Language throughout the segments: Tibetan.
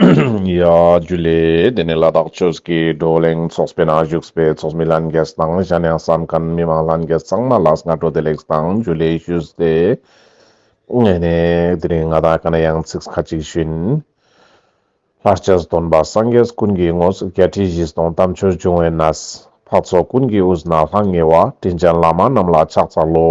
ཡ། རྒྱུ་ལས། དེ་ནི་ལ་དྭགས་ཆོས་སྐྱིད་བགྲོ་གླེང་ཚོགས་པའི་ནང་བཞུགས་པའི་ཚོགས་མི་ལྷན་རྒྱས་དང་གཞན་ཡང་བསམ་ཁམས་མི་མང་ལྷན་རྒྱས་ཚང་མ་ལ་སྔ་དྲོ་བདེ་ལེགས་དང་རྒྱུ་ལས་ཞུས་ཏེ། ངེད་ནས་དེ་རིང་ང་དང་ག་ན་ཡང་ཚིག་ཁ་གཅིག་བཞིན། ལྷར་བཅས་སུ་སྟོན་པ་སངས་རྒྱས་ཀུན་གྱི་དངོས་སུ་བརྒྱད་ཁྲི་བཞི་སྟོང་དམ་ཆོས་འབྱུང་བའི་གནས། འཕགས་ཚོགས་ཀུན་གྱི་དབུས་ན་ལྷང་ངེ་བ་དྲིན་ཅན་བླ་མ་རྣམས་ལ་ཕྱག་འཚལ་ལོ།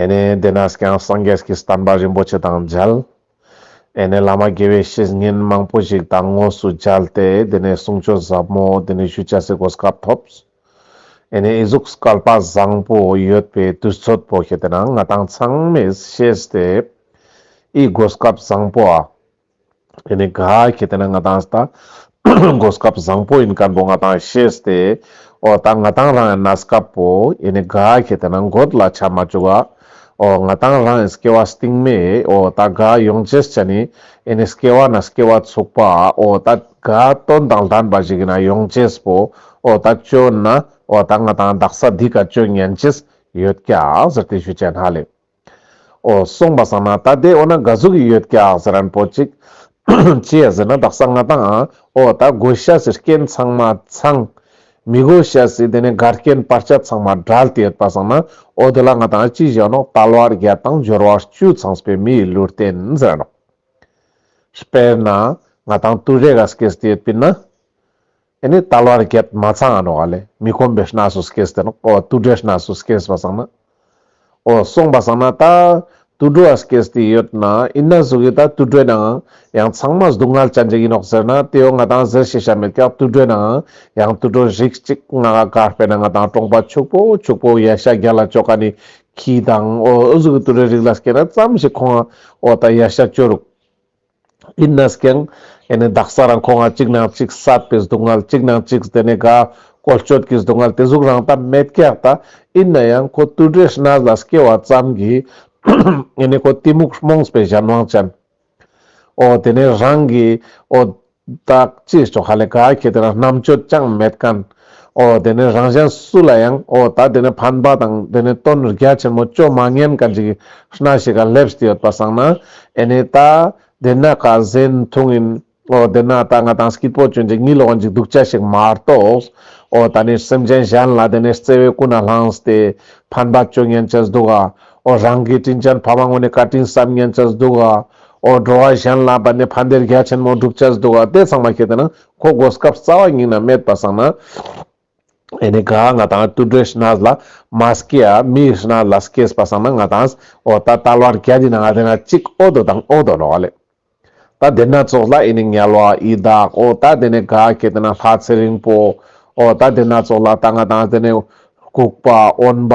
ཨེ་ནེ་དེ་ནས་ཀྱང་སངས་རྒྱས་ཀྱི་བསྟན་པ་རིན་པོ་ཆེ་དང་མཇལ། ཨེ་ནེ་བླ་མ་དགེ་བའི་བཤེས་གཉེན་མང་པོ་ཞིག་དང་དངོས་སུ་མཇལ་ཏེ་དེ་ནས་གསུང་ཆོས་ཟབ་མོ་དེ་ནས་ཞུ་བྱ་སའི་གོ་སྐབས་ཐོབ། ཨེ་ནེ་ཨི་གཟུགས་སྐལ་པ་བཟང་པོ་ཡོད་པའི་དུས་ཚོད་པོ་ཞིག་དེ་ན་ང་དང་ཚང་མས་ཤེས་ཏེ། ཨི་གོ་སྐབས་བཟང་པོ་ཨ། དེ་ནས་ག་གེ་དེ་ན་ང་ཏང་སྟ་གོ་སྐབས་བཟང་པོ་ཡིན་ཀར་འདུག་ང་ཏང་ཤེས་ཏེ་ཨོ་ད་ང་ཏང་རང་ཡང་ན་སྐབས་པོ་ཡེ་ནས་ག་གེ་དེ་ན་འགོད་ལ་ཆ་མ་བཅུག་ག་ཨོ་ང་ཏང་རང་ཡང་སྐྱེ་བ་སྟིང་མེ་ཨོ་ད་ག་ཡོང་རྗེས་ཅ་ནི་ཡེ་ནས་སྐྱེ་བ་ན་སྐྱེ་བ་ཚུགས་པ་ཨོ་ད་ག་དོན་དང་ལྡན་པ་ཞིག་ཡིན་ན་ཡོང་རྗེས་པོ་ཨོ་ད་སྤྱོད་ན་ཨོ་ད་ང་ཏང་བདག་ས་འདི་ག་སྤྱོད་ཉན་གྱིས་ཡོད་ཀྱ་ཟེར་ཏེ་ཞུ་བྱས་ན་ལེགས། ཨོ། གསུངས་པ་བསམ་ན་ད་དེ་འོ་ན་དགའ་བསུ་གི་ཡོད་ཀྱག་ཟེར་རན་པོ་ཅིག། ཅེས་ཟེར་ན་དག་ས་ང་དང་ཨོ་ད་དགོས་ཤ་ཟེར་རྐྱེན་ཚང་མ་ཚང། མི་དགོས་ཤ་ཟེར་དེ་ནས་དགའ་རྐྱེན་སྤར་ཆ་ཚང་མ་བསྒྲལ་དེ་ཡོད་པ་བསམ་ན་ཨོ་དེ་ལ་ང་དང་ཨ་ཅི་བཞག་ནོག་ད་ལོ་ཨར་བརྒྱད་དང་སྦྱོར་བ་བཅུ་ཚང་སྤེལ་མི་ཡི་ལུས་རྟེན་ཟེར་རན་ནོག། དཔེར་ན་ང་དང་ཏུ་རེ་ག་སྐད་ཟེར་དེ་ཡོད་པིན་ན། དེ་ནི་ལྟ་ལོར་བརྒྱད་མ་ཚང་ཨ་ནོག་ཨ་ལས་མི་ཁོམ་པའི་སྣ་སུ་སྐེས་དེ་ནོག་ཨོ་ཨ་ཏུ་དྲའི་སྣ་སུ་སྐེས་པ་བསང་ན་ཨོ་སོང་པ་བསང་ན་ད་ཏུ་དྲོ་ཨ་སྐེས་དེ་ཡོད་ན་ཨི་ན་ཟུག་གི་ད་ཏུ་དྲོས་ནའང་ཡང་ཚང་མ་སྡུག་བསྔལ་ཅན་ཅིག་ཡིན་ནོག་ཟེར་ན་དེ་ཡོ་ང་དང་ཟེར་ཤེས་ཤ་མེད་ཀྱ་ཏུ་དྲོས་ནའང་ཡང་ཏུ་དྲོ་ཞིག་ཅིག་ང་ག་ག་སྤེ་ན་ང་དང་ཀྲོང་པ་ཕྱུག་པོ་ཕྱུག་པོ་ཡ་ཤ་རྒྱ་ལ་ཅོ་ག་ནི་ཁྱི་དང་ཨོ་ཨུ་ཟུག་གི་ཏུ་དྲོའི་རིགས་ལ་སྐེ་ན་ཙམ་ཞིག་ཁོང་ཨོ་ད་ཡ་ཤ་ཅོ་རུག། ཡིན་ནས་ཀྱང། དེ་ནས་བདག་ས་རང་ཁོ་ང་གཅིག་ནང་གཅིག་བསགས་པའི་སྡུག་བསྔལ་གཅིག་ནང་གཅིག་དེ་ནས་དགའ། བཀོལ་སྤྱོད་ཀྱི་སྡུག་བསྔལ་དེ་གཟུགས་རང་དང་མེད་སྐྱེས་དང། ཡིན་ན་ཡང་ཁོ་རྟུལ་འབྲས་སྣ་ལ་སྐྱེ་བ་ཙམ་གྱིས། ངས་ནི་ཁོ་གཏི་མུག་རྨོངས་པའི་གཞན་དབང་ཅན། ཨོ། དེ་ནས་རང་གིས་ཨོ། བདག་ཅེས་ཆོ་ག་ལས་དགའ་ཁྱེད་དེ་རང་རྣམ་དཔྱོད་ཅང་མེད་ཀན། ཨོ་དེ་ནས་རང་གཞན་སུ་ལ་ཡང་ཨོ་ད་དེ་ནས་ཕན་པ་དང་དེ་ནས་དོན་རྒྱ་ཆེན་མོ་བཅོ་མ་ངན་ག་འཇིགས་སྣ་ཞིག་ག་སླེབས་ཏེ་ཡོད་པ་བསམ་ན་ཨེ་ནས་ད་དེ་ནས་ག་གཟན་ཐུང་ཡིན་ཨོ་དེ་ན་ད་ང་དང་སྐྱིད་པོ་གྱོན་ཅིག་གཉིད་ལོག་འཇིགས་སྡུག་ཅག་ཞིག་མ་གཏོགས་ཨོ་ད་ནས་སེམས་ཅན་གཞན་ལ་དེ་ནས་བརྩེ་བའི་སྐུ་ན་བསླངས་ཏེ་ཕན་པ་བཅོ་ངན་ཅི་སྡུག་ཨ་ཨོ་རང་གི་དྲིན་ཅན་ཕ་མ་ངོ་ནས་ག་དྲིན་བསམ་ངན་ཅི་སྡུག་ཨ་ཨོ་འགྲོ་བ་གཞན་ལ་བར་ནས་ཕན་བདེ་རྒྱ་ཆེན་མོ་བསྒྲུབ་ཅི་སྡུག་ཨ་དེ་ཚང་མ་ཁྱེད་དེ་ན་ཁོ་མགོ་སྐབས་རྩ་བ་ཉིང་ན་སྨད་པ་བསྲང་ན། ཨེ་ནི་གཱ་ང་དང་ཏུ་སྒྲོལ་ཤི་ནཱས་ལ་མ་སྐྱེས་ཨ་མི་ཤི་ནཱས་ལ་སྐྱེས་པ་བསྲང་ན་ང་དང་ཨོ་ད་ཏལ་བར་གྱ་དེ་ན་ང་དེ་ན་གཅིག་ཨོ་དོ་དང་ཨོ་དོ་ལོ་ལེ། ད་དེ་ན་ཙོག་ལ་ཨེ་ནི་ཉལ་བ་ཨི་བདག་ཨོ་ད་དེ་ནས་གཱ་སྐྱེས་དེ་ན་ལྷ་ཚེ་རིང་པོ་ཨོ་ད་དེ་ན་ཙོག་ལ་ད་ང་དང་དེ་ནས་ལྐུགས་པ་ཨོན་པ་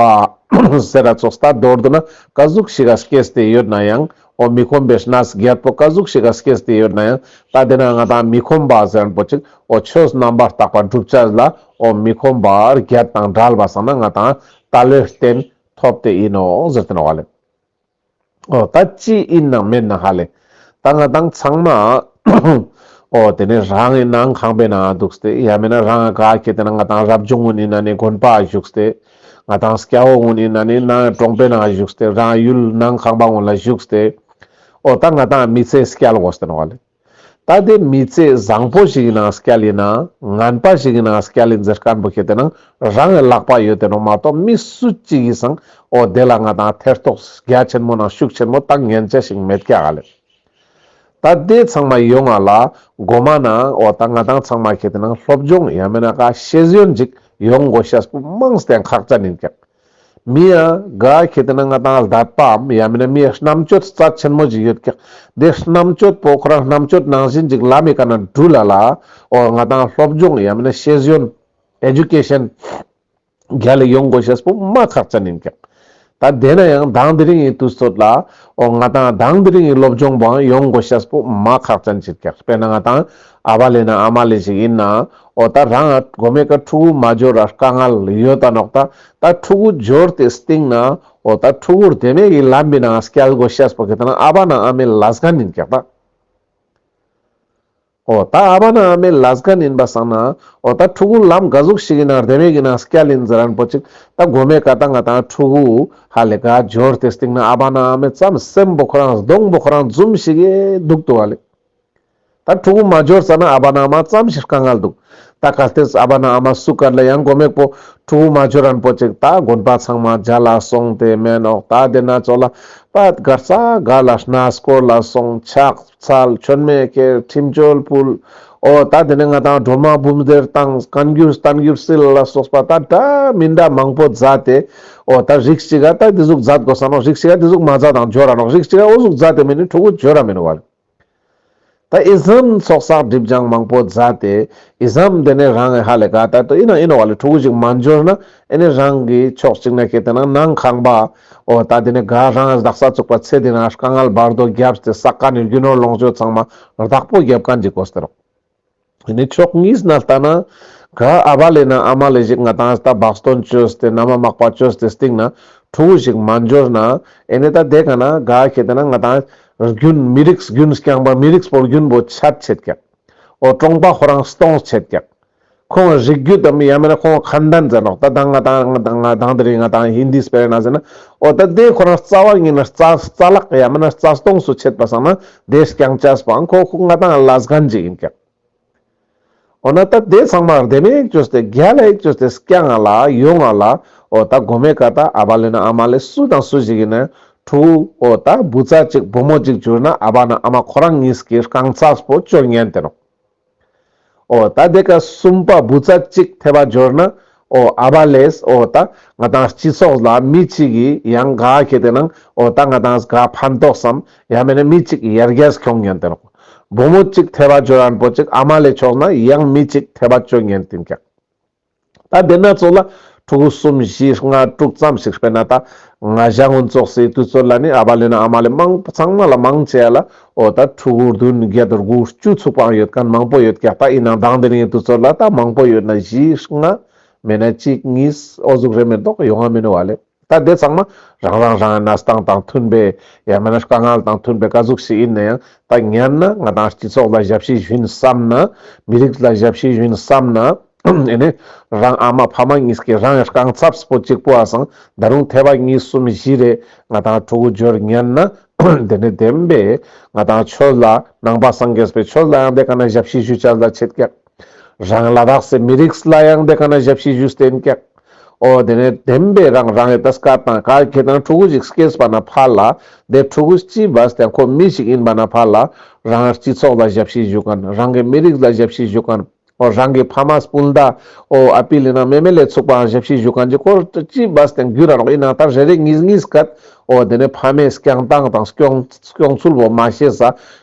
ཟེར་ར་ཙོགས་ད་མདོར་དུ་ན་གཱ་གཟུགས་ཤི་ག་སྐྱེས་ཏེ་ཡོད་ན་ཡང་ཁོང་མི་ཁོམ་པའི་ཤྲཱི་ནཱས་སྒེར་པོ་བཀའ་ཟུག་ཞིག་ག་སྐད་བལྟས་ཡོད་ན་ཡང་ད་དེ་ན་ང་དང་མི་ཁོམ་པ་གཟན་པོ་ཅིག་ཨོ་ཆོས་རྣམ་པར་དག་པ་བསྒྲུབ་བྱ་ལ་ཨོ་མི་ཁོམ་པ་ཨར་རྒྱལ་དང་འདྲ་ལ་བ་ས་ན་ང་དང་ད་ལོས་བསྟན་ཐོབ་དེ་ཡིན་ནོ་ཟེར་གྱིན་བ་ལེ་ཨོ་ད་ཅི་ཡིན་ནང་མེད་ན་ཧ་ལེ་ད་ང་དང་ཚང་མ་ཨོ་དེ་ནས་རང་ཡིན་ནང་ཁང་པའི་ནང་འདུག་སྟེ་ཡ་མེད་ན་རང་ག་གེ་དེ་ན་ང་དང་རབ་བྱུང་ཡིན་ན་ནི་དགོན་པ་བཞུགས་སྟེ་ང་དང་སྐྱ་བོ་དངོས་གནས་ན་ནིང་ནང་གི་གྲོང་པའི་ནང་བཞུགས་ཏེ་རང་ཡུལ་ནང་ཁང་པ་དངོས་ལ་བཞུགས་ཏེ། འོ་ད་ང་དང་མི་ཚེ་སྐྱལ་དགོས་ཟེར་བ་ལས། ད་ལྟའི་མི་ཚེ་བཟང་པོ་ཞིག་གི་ནང་སྐྱལ་ཡིན་ནའང་ངན་པ་ཞིག་གི་ནང་སྐྱལ་ཡིན་ཟེར་དཀར་འབུ་ཁྱེད་དེ་ནང་རང་གི་ལག་པ་ཡོད་དེ་ནོར་མ་གཏོགས་མི་སུ་གཅིག་ཡིན་སང་འོ་དེ་ལ་ང་དང་ཐེར་ཐོགས་རྒྱ་ཆེན་མོ་ནང་ཤུགས་ཆེན་མོ་བཏང་ངན་ཅན་ཞིག་མེད་སྐྱ་ག་ལེར། ད་ལྟའི་ཚང་མ་ཡོད་ང་ལ་མགོ་མ་ན་འོ་ད་ང་དང་ཚང་མ་ཁྱེད་དེ་ནང་སློབ་སྦྱོང་ཡ་མེ་ན་ཀ་ཤེས་ཟོན་ཅིག་ཡོང་མགོ་ཤ་སྤུ་དམངས་སྟེང་ཁག་བཅའ་ནིན་ཀྱང་མི་ཡ་ག་ཁྱེད་དེ་ན་ང་དང་ལ་དད་པའམ་ཡ་མེ་ན་མི་རྣམ་དཔྱོད་རྩ་ཆེན་མོ་ཅིག་ཡོད་ཀྱང་དེ་རྣམ་དཔྱོད་པོ་ཁོ་རང་རྣམ་དཔྱོད་ནང་བཞིན་ཅིག་ལ་མེ་ཀ་ན་འགྲུལ་ལ་ལ་འོ་ང་དང་སློབ་སྦྱོང་ཡ་མེ་ན་ཤེས་ཟོན Education། རྒྱ་ལས་ཡོང་དགོས་ཞེས་བུ་མ་ཁག་ཅན་ཡིན་ཀྱང། ད་བསྡད་ན་ཡང་གདངས་དེ་རིང་ཡི་དུས་ཚོད་ལ། འོ་ང་དང་གདངས་དེ་རིང་ཡི་སློབ་སྦྱོང་བུའང་ཡོང་དགོས་ཞེས་བུ་མ་ཁག་ཅན་གྱིས་བཀག་དཔེར་ན་ང་དང་ཨ་བ་ལས་ན་ཨ་མ་ལས་ཞིག་ཡིན་ན། འོ་ད་རང་ཨ་དགོ་མེད་ཀ་ཕྲུ་གུ་མ་སྦྱོར་ར་དཀའ་ངལ་ཡོད་ད་ནོག་ད་ད་ཕྲུ་གུ་སྦྱོར་དེ་སྟེང་ན། འོ་ད་ཕྲུ་གུར་དེ་མེད་ཡི་ལམ་བི་ན་སྐྱལ་དགོས་ཞེས་བུ་གི་ད་ན་ཨ་བ་ན་ཨ་མའི་ལ་སྒ་ནིན་ཀྱག་ད། ཨོ་ད་ཨ་བ་ན་ཨ་མའི་ལ་གཟཀ་ནིན་པ་བསང་ན་ཨོ་ད་ཕྲུ་གུ་ལམ་ག་གཟུགས་ཤིག་ཡིན་ན་རྡེ་མེད་གི་ན་སྐྱ་ལིན་རྫི་རན་པོ་ཅིག་ད་དགོ་མེད་ག་ད་ང་ད་ཕྲུ་གུ་ཧ་ལས་ག་འབྱོར་དེ་སྟིང་ན་ཨ་བ་ན་ཨ་མའི་རྩམ་སེམས་པོ་ཁོ་རང་སྡོང་པོ་ཁོ་རང་འཛུམ་ཤིག་ཨེ་འདུག་ཏུ་ཨ་ལས་ད་ཕྲུ་གུ་མ་འབྱོར་ཙ་ན་ཨ་བ་ན་ཨ་མ་རྩམ་ཤི་རཀ་ངལ་འདུག་ད་ག་ལྟེས་ཨ་བ་ན་ཨ་མ་སུ་ཀར་ལ་ཡང་དགོ་མེད་པོ་ཕྲུ་གུ་མ་འབྱོར་རན་པོ་ཅིག་ད་དགོན་པ་ཚང་མ་རྒྱ་ལ་སོང་དེ་མན་ཨོག་ད་དེ་ན་ཅོ་ལ་པད་དགར་རྩ་དགར་ལ་སྣ་སྐོར་ལ་སོང་ཆགས། ཚལ་འཆོལ་མེད་སྐྱེར་ཁྲིམས་བཅོལ་བུལ། ཨོ་ད་དེ་ནས་ང་དང་གྲོ་མ་འབུམ་སྡེར་བཏང་བཀའ་འགྱུར་གཏམ་འགྱུར་སིལ་ལ་སོགས་པ་ད་འདྲ་མི་འདྲ་མང་པོ་བཛྲ་སྟེ། ཨོ་ད་རིགས་གཅིག་ཨ་ད་དེ་གཟུགས་བཛྲ་དགོ་ས་ནོ་རིགས་གཅིག་ཨ་དེ་གཟུགས་མ་བཛྲ་དང་བརྗོད་ར་ནོ་རིགས་གཅིག་ཨོ་གཟུགས་བཛྲ་དེ་མིན་ནི་ཕྲུ་གུ་བརྗོད་ར་མིན་ནོ་བར། ད་ཨི་ཟམ་ཚོགས་བསགས་སྒྲིབ་སྦྱང་མང་པོ་བཛྲ་སྟེ། ཨི་ཟམ་དེ་ནས་རང་ཨེ་ཧ་ལས་ག་ད་ཏོ་ཨི་ན་ཨི་ནོ་བ་ལས་ཕྲུ་གུ་ཞིག་མ་འབྱོར་ན་ཨེ་ནི་རང་གི་ཕྱོགས་གཅིག་ནས་སྐྱེ་དེ་ན་ནང་ཁང་པ། ཨོ་ད་དེ་ནས་དགའ་རང་རྡག་ས་བཙུགས་པ་ཚེ་འདི་ན་དཀའ་ངལ་འབར་མདོ་བརྒྱབ་སྟེ་ས་དཀའ་ནས་རྒྱུ་ནོར་ལོངས་སྤྱོད་ཚང་མ་རྡག་པོ་བརྒྱབ་ག་འགྲིག་གོ་ཟེར་རོ། དེ་ནས་ཕྱོགས་གཉིས་ན་ལྟ་ན། དགའ་ཨ་བ་ལས་ན་ཨ་མ་ལས་ཞིག་ང་དང་ཨ་ཟད་བག་སྟོན་བཅོས་ཏེ་མནའ་མ་མག་པ་བཅོས་ཏེ་སྟེང་ན་ཕྲུ་གུ་ཞིག་མ་འབྱོར་ན། ཨེ་ནས་ད་དེ་ག་ན་དགའ་ཁྱེད་དེ་ན་ང་དང་རྒྱུན་མི་རིགས་རྒྱུན་སྐྱངས་པ་མི་རིགས་པོར་རྒྱུན་པོ་ཆད་བྱེད་ཀྱག། ཨོ་ཀྲོང་པ་ཧོ་རང་སྟོང་བྱེད་ཀྱག། ཁོང་ལ་རིགས་རྒྱུད་དམ་ཡང་མིན་ན་ཁོང་གང་འདྲ་མཛད་ནོ་ད་ལྟ་ང་དང་ང་དང་ང་དང་དེ་རིང་ང་དང་ཧིན་དྷིའི་སྤེལ་ན་ཟེར་ན་ཨོ་ད་དེ་ཁོ་རང་རྩ་བ་ཉིད་ན་རྩ་རྩ་ལག་ཡང་མིན་ན་རྩ་སྟོངས་སུ་ཆད་པ་སང་ན་དེས་རྐྱང་བཅས་པའང་ཁོ་ཁོ་ང་དང་བླ་སྒང་གཅིག་ཡིན་ཀྱང། ཨོ་ན་ད་དེ་ཚང་མ་རྡེ་མེད་ཀྱོས་ཏེ་རྒྱ་ལ་ཡིག་ཀྱོས་ཏེ་སྐྱ་ང་ལ་ཡོ་ང་ལ་ཨོ་ད་དགོ་མེད་ཀ་ད་ཨ་བ་ལོན་ན་ཨ་མ་ལོས་སུ་དང་སུ་ཞིག་ཡིན་ན་ཁྲུའུ་ཨོ་ད་བུ་ཚ་གཅིག་བུ་མོ་གཅིག་གྱུར་ན་ཨ་བ་ན་ཨ་མ་ཁོ་རང་གཉིས་ཀྱིས་རྐང་བཅས་པོ་ཅོ་ཉན་དེ་རོ། ཨོ་ད་དེ་ག་གསུམ་པ་བུ་ཚ་གཅིག་ཐེ་བ་སྦྱོར་ན་ཨོ་ཨ་བ་ལས་ཨོ་ད་ང་དང་སྤྱི་ཚོགས་ལ་མི་གཅིག་གིས་ཡང་དགའ་གལ་ཏེ་ནང་ཨོ་ད་ང་དང་ག་ཕན་ཐོགས་སམ་ཡང་མེད་ན་མི་གཅིག་ཡར་རྒྱས་ཁྱོང་ཉན་ཏེ་རོགས། བུ་མོ་གཅིག་ཐེ་བ་སྦྱོར་ཨན་པོ་གཅིག་ཨ་མ་ལས་ཆོག་ན་ཡང་མི་གཅིག་ཐེ་བ་སྤྱོད་ཉན་ཏིན་ཀྱང། ད་ལྟའི་ན་ཚོད་ལ་ཕྲུ་གུ་གསུམ་བཞི་ལྔ་དྲུག་ཙམ་ཞིག་སྤེལ་ན་ད་ང་བཞག་སྔོན་བཙོག་སའི་དུས་ཚོད་ལ་ནི་ཨ་བ་ལོན་ཨ་མ་ལས་མང་ཚང་མ་ལ་མང་ཆེ་བ་ལ་འོ་ད་ཕྲུ་གུ་བདུན་བརྒྱད་དགུ་བཅུ་ཚུགས་པའང་ཡོད་གང་མང་པོ་ཡོད་ཀྱ་ད་ཡིན་ནའང་ལྡང་འདི་ནའི་དུས་ཚོད་ལ་ད་མང་པོ་ཡོད་ན་བཞི་ལྔ་མེད་ན་གཅིག་གཉིས་ཨོ་གཟུགས་རེ་མེད་མདོག་ཡོང་བ་མིན་བ་ལས། ད་དེ་ཚང་མ་རང་རང་རང་གི་ན་སྟངས་དང་མཐུན་པའི་ཡང་མིན་ན་དཀའ་ངལ་དང་མཐུན་པའི་དཀའ་གཟུགས་ཤིག་ཡིན་ན་ཡང་ད་ཉན་ན་ང་དང་སྤྱི་ཚོགས་ལ་ཞབས་ཕྱི་ཞུན་བསམ་ན་མི་རིགས་ལ་ཞབས་ཕྱི་ཞུན་བསམ་ན་ཨེ་ནས་རང་ཨ་མ་ཕ་མ་གཉིས་ཀྱི་རང་གི་རྐང་ཚབས་པོ་གཅིག་པོ་ཨང་ད་རུང་ཐེ་བ་གཉིས་གསུམ་བཞི་རེ་ང་དང་ཕྲུ་གུ་འབྱོར་ཉན་ན་དེ་ནས་བདེན་པས་ང་དང་ཁྱོད་ལ་ནང་པ་སངས་རྒྱས་པའི་ཆོས་ལ་ཡང་དེ་ག་ན་ཞབས་ཕྱི་ཞུ་བྱ་ལ་ཆེད་བཀག། རང་ལ་རགས་སའི་མི་རིགས་ལ་ཡང་དེ་ག་ན་ཞབས་ཕྱི་བཞུ་སྟེ་འགེགས། ཨོ་དེ་ནས་དེམ་པས་རང་རང་གི་ཏས་ཀ་དང་ག་གེ་དང་ཕྲུ་གུ་ཞིག་སྐྱེས་པ་ན་ཕ་ལ་དེ་ཕྲུ་གུ་སྐྱིས་པ་དེ་ཁོ་མི་ཞིག་ཡིན་པ་ན་ཕ་ལ་རང་སྤྱི་ཚོགས་ལ་ཞབས་ཕྱི་བཞུ་གན་རང་གི་མི་རིགས་ལ་ཞབས་ཕྱི་བཞུ་གན་ཨོ་རང་གི་ཕ་མ་སྤུན་ཟླ་ཨོ་ཨ་པི་ལི་ན་མེ་མེ་ལས་ཚུགས་པའང་ཞབས་ཕྱི་བཞུ་གན་གྱི་སྐོར་སྐྱིས་པ་དེ་འགུལ་རང་རོགས་ཡིན་ན་ད་རེ་རེ་གཉིས་གཉིས་སྐད་ཨོ་དེ་ནས་ཕ་མས་སྐྱང་སྟངས་དང་སྐྱོང་སྐྱོང་ཚུལ་བོ་མ་ཤེས་ས་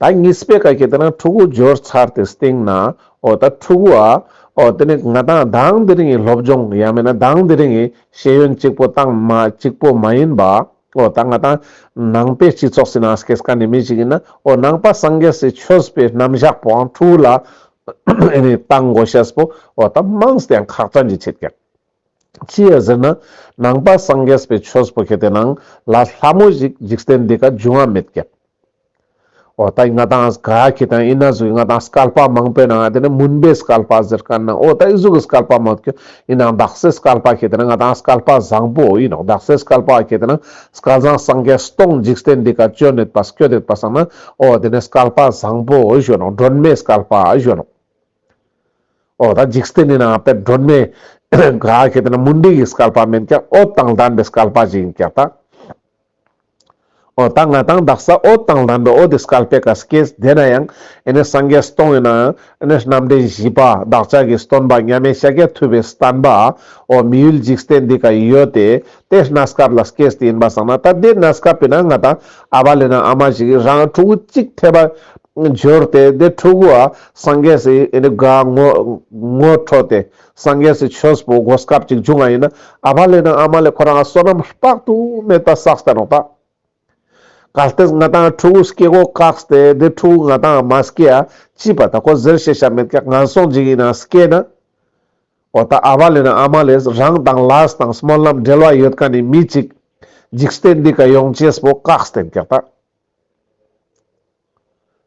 ད་ངའི་སྤས་ཀ་ཁྱེད་ལྟར་ན་ཕྲུ་གུ་སྦྱོར་ཚར་དེ་སྟེང་ན་ཨོ་ད་ཕྲུ་གུ་ཨ། ཨོ་དེ་ནི་ང་དང་གདངས་དེ་རིང་གི་སློབ་སྦྱོང་ཡང་མིན་ན་གདངས་དེ་རིང་གི་ཤེས་ཡོན་གཅིག་པོ་དང་མ་གཅིག་པོ་མ་ཡིན་པ། ཨོ་ད་ང་དང་ནང་པའི་སྤྱི་ཚོགས་སྲིད་ན་སྐས་ཀ་ནི་མི་ཞིག་ཡིན་ན་ཨོ་ནང་པ་སངས་རྒྱས་སི་ཆོས་པའི་རྣམ་བཞག་པོའང་ཕྲུ་གུ་ལ་ཨེ་ནི་ལྟ་མགོ་ཤེས་པོ་ཨོ་ད་དམངས་སུ་དེའང་ཁག་དྲངས་ཀྱི་བྱེད་ཀྱང། ཅི་ཡོད་ཟེར་ན་ནང་པ་སངས་རྒྱས་པའི་ཆོས་སྤུ་གེ་དེ་ནང་ལ་ལྷ་མོ་ཞིག་འཇིག་རྟེན་འདི་ཀ་འབྱུང་བ་མེད་སྐད། ཨོ་ད་ཡིན་ང་དང་ག་གི་དང་ཡིན་ན་གཟུགས་ཡིན་ང་དང་སྐལ་པ་མང་པོའི་ནང་ང་དེ་ནི་མུན་པའི་སྐལ་པ་ཟེར་ག་ན་ཨོ་ད་ཡིན་གཟུགས་ཀྱི་སྐལ་པ་མང་ཀྱོ་ཡིན་ནང་བདག་སྲས་སྐལ་པ་གེ་དེ་ནང་ང་དང་སྐལ་པ་བཟང་པོ་ཡིན་ནོ་བདག་སྲས་སྐལ་པ་གེ་དེ་ནང་སྐལ་བཟང་སངས་རྒྱས་སྟོང་འཇིག་རྟེན་འདི་ཀ་སྐྱོ་ནད་པ་སྐྱོ་དད་པ་བསམ་ན་ཨོ་དེ་ནི་སྐལ་པ་བཟང་པོ་གཞོན་ནོ་སྒྲོན་མེའི་སྐལ་པ་གཞོན་ནོ། ཨོ་ད་འཇིག་རྟེན་ནི་ནང་པའི་སྒྲོན་མེ། ག་གེ་དེ་ན་མུན་འདྲེ་ཡི་སྐལ་པ་མིན་ཀྱང་ཨོ་དང་ལྡན་པའི་སྐལ་པ་ཞིག་ཡིན་ཀྱང་ཐ། ཨོ་ད་ང་དང་བདག་ས་ཨོ་དང་ལྡན་པའི་ཨོ་དེ་སྐལ་པའི་ག་ས་ཀེ་ས་དེ་ན་ཡང་ཨེ་ནས་སངས་རྒྱས་སྟོང་ཡོད་ན་ཨེ་ནས་རྣམ་འདྲེན་བཞི་པ་བདག་ཅག་གིས་སྟོན་པ་མཉམ་མེད་ཤཱཀྱ་ཐུབ་པའི་སྟན་པ་ཨོ་མི་ཡུལ་འཇིག་རྟེན་འདི་ག་ཡི་ཡོད་དེ་དེ་སྣ་སྐབས་ལ་སྐྱེས་དེ་ཡིན་པ་བསམ་ན་ད་དེ་སྣ་སྐབས་པས་ན་ང་དང་ཨ་བ་ལས་ན་ཨ་མ་ཞིག་གིས་རང་ཕྲུ་གུ་གཅིག་ཐེབས་པ་འབྱོར་ཏེ་དེ་ཕྲུ་གུ་ཨ་སངས་རྒྱས་སུ་ཡིན་དགའ་ངོ་ངོ་འཕྲོད་དེ་སངས་རྒྱས་སུ་ཆོས་པོ་དགོས་སྐབས་ཅིག་འབྱུང་བ་ཡིན་ན་ཨ་བ་ལས་ན་ཨ་མ་ལས་ཁོ་རང་ཨ་བསོད་ནམས་དཔག་ཏུ་མེད་པ་བསགས་ཏེ་རོགས་པ། བཀའ་གཏེར་མངའ་ཐང་ཕྲུ་གུ་སྐྱེ་སྒོ་བཀག་སྟེ་འདི་ཕྲུ་གུ་མངའ་ཐང་མ་སྐྱེ་ཡ་ཅི་བ་ད་ཁོ་ཟེར་ཤེས་ཤ་མེད་ཀྱ་ང་སོང་འཇིག་ཡིན་ན་སྐྱེ་ན། འོ་ད་ཨ་བ་ལེ་ན་ཨ་མ་ལེ་རང་དང་ལཱས་དང་སྨོན་ལམ་འབྲེལ་བ་ཡོད་ཀ་ནི་མི་གཅིག། འཇིག་སྟེ་འདི་ཀ་ཡོང་ཅེས་པོ་བཀག་སྟེ་འཁྱག་ད།